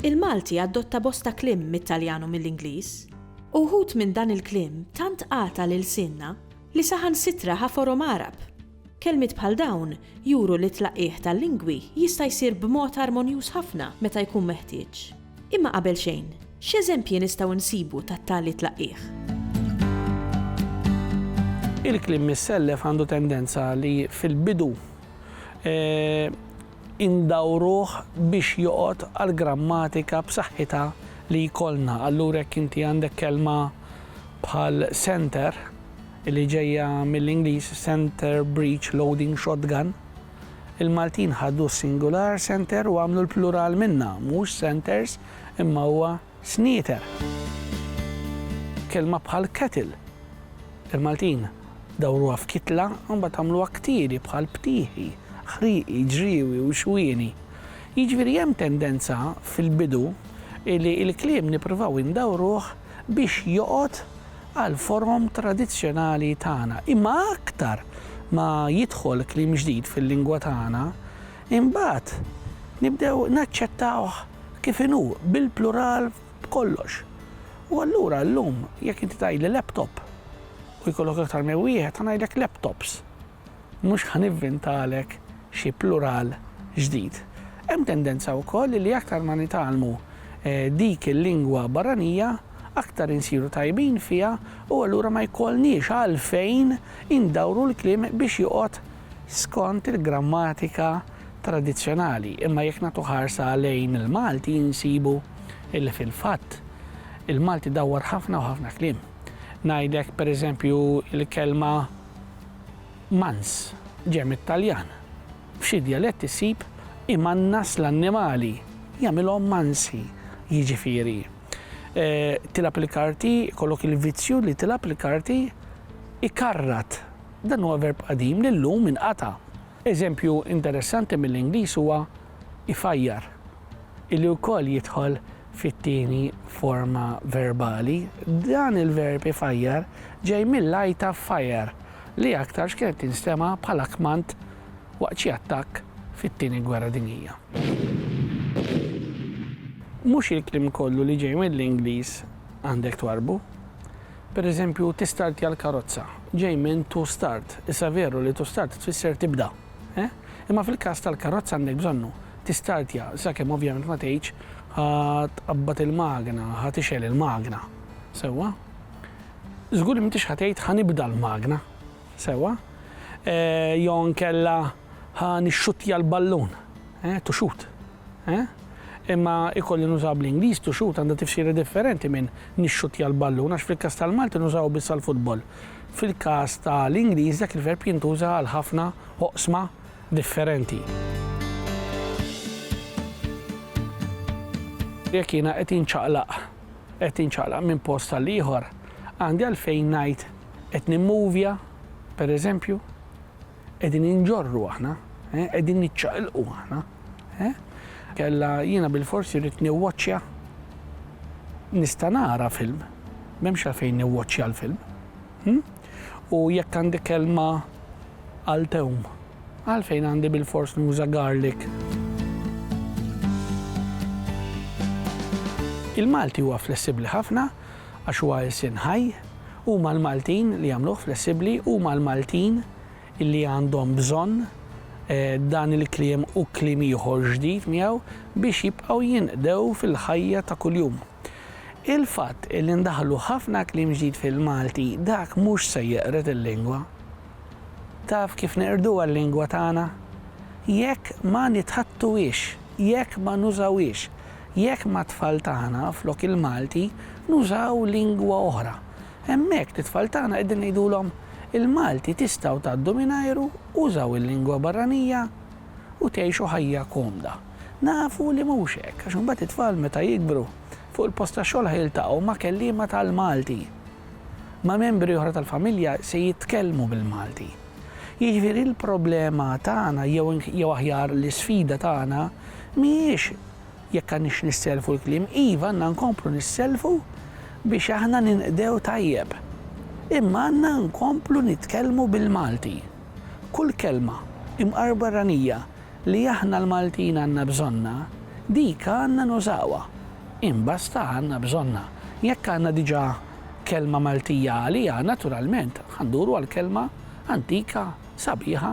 Il-Malti adotta bosta kliem mit-Taljan u mill-Ingliż. Uħud minn dan il-kliem tant qata' l-ilsienna li saħansitra ħa forom Għarab. Kelmiet bħal dawn juru li t-tlaqqigħ tal-lingwi jista' jsir b'mod armonjuż ħafna meta jkun meħtieġ. Imma qabel xejn, x'eżempji nistgħu nsibu ta' tali tlaqqigħ? Il-kliem missellef għandu tendenza li fil-bidu indawruh biex joqgħod għall-grammatika b'saħħitha li jkollna. Allura jekk inti għandek kelma bħal center, li ġejja mill-Ingliż center breech loading shotgun, il-Maltin ħadu s-singular center u għamlu l-plural minnha, mhux centers imma huwa snieter. Kelma bħal kettle, il-Maltin dawruha f'kitla u mbagħad għamluha ktieli bħal btieħi, ħrieqi, ġriewi u xwieni. Jiġifieri hemm tendenza fil-bidu li l-kliem nippruvaw indawruh biex joqgħod għall-forom tradizzjonali tagħna. Imma aktar ma jidħol kliem ġdid fil-lingwa tagħna, imbagħad nibdew naċċettawh kif inhu, bil-plural b'kollox. U allura llum jekk inti tgħidli laptop u jkollok aktar minn wieħed, ħa ngħidlek laptops. Mhux ħa nivvintalek xi plural ġdid. Hemm tendenza wkoll li aktar ma nitgħallmu dik il-lingwa barranija, aktar insiru tajbin fiha u allura ma jkollniex għalfejn indawru l-kliem biex joqgħod skont il-grammatika tradizzjonali. Imma jekk nagħtu ħarsa lejn il-Malti insibu li fil-fatt il-Malti dawwar ħafna u ħafna kliem. Ngħidlek pereżempju l-kelma Mans ġej mit-Taljan. F'xi djaletti ssib imannas l-annimali, jagħmilhom mansi, jiġifieri, tilgħab il-karti, jkollok il-vizzju li tilgħab il-karti, ikarrat. Dan huwa verb qadim li llum inqata'. Eżempju interessanti mill-Ingliż huwa ifajjar. li wkoll jidħol fit-tieni forma verbali, dan il-verb ifajjar ġej mill-għajta fire li aktarx kienet tinstema' bħala kmand waqt xi attakk fit-Tieni Gwerra Dinjija. Mhux il-kliem kollu li ġej mill-Ingliż għandek twarrbu. Per eżempju, tistartja l-karozza ġej minn to start. Issa veru li to start tfisser tibda. Eh? Imma fil-każ tal-karozza għandek bżonnu tistartja sakemm ovvjament ma tgħidx ħa tqabbad il-magna, ħa tixgħel il-magna. Sewwa? Żgur li m'intix ħa tgħid ħa nibda l-magna. Sewwa? Eh, jew nkella ħa nixxuttja l-ballun. Eh, to shoot. Eh? Imma ikolli nużaw bl-Ingliż to shoot għandha tifsira differenti minn nixxuttja l-ballun għax fil-każ tal-Malti nużaw biss għall-futbol. Fil-każ ta' l-Ingliż dak il-verb jintuża għal ħafna oqsma differenti. Jekk jiena qed inċaqlaq, qed inċaqlaq minn post għal ieħor, għandi għalfejn ngħid qed nimmovja, pereżempju, Qegħdin inġorru aħna, qegħdin niċċaqilqu aħna. Kella jiena bilfors irrid niwwaċċja nista' nara film, m'hemmx għalfejn niwwaċċja l-film. Hm? U jekk għandi kelma għal tewm, għalfejn għandi bilfors nuża garlic. Il-Malti huwa flessibbli ħafna għax huwa ilsien ħaj, huma l-Maltin li jagħmluh flessibbli, huma l-Maltin li għandhom bżonn dan il-kliem u kliem ieħor ġdid miegħu biex jibqgħu jinqdew fil-ħajja ta' kuljum. Il-fatt li ndaħħlu ħafna kliem ġdid fil-Malti dak mhux se jeqred il-lingwa. Taf kif neqrduha l-lingwa tagħna? Jekk ma nitħattuhiex, jekk ma nużawhiex Jekk mat-tfal tagħna, flok il-Malti, nużaw lingwa oħra, hemmhekk lit-tfal tagħna qegħdin ngħidulhom, il-Malti tistgħu tgħaddu mingħajru, użaw il-lingwa barranija u tgħixu ħajja komda. Nafu li mhux hekk, għax imbagħad it-tfal meta jikbru, fuq il-post tax-xogħol ħa jiltaqgħu ma' kelliema tal-Malti. Ma' membri oħra tal-familja se jitkellmu bil-Malti. Jiġifieri l-problema tagħna jew jew aħjar l-isfida tagħna mhijiex Jekk għandniex nissellfu l-kliem, iva għandna nkomplu nissellfu biex aħna ninqdew tajjeb. Imma għandna nkomplu nitkellmu bil-Malti. Kull kelma, imqar barranija, li aħna l-Maltin għandna bżonnha, dik għandna nużawha. Imbasta għandna bżonnha. Jekk għandna diġà kelma Maltija għaliha, naturalment ħa nduru għall-kelma antika, sabiħa,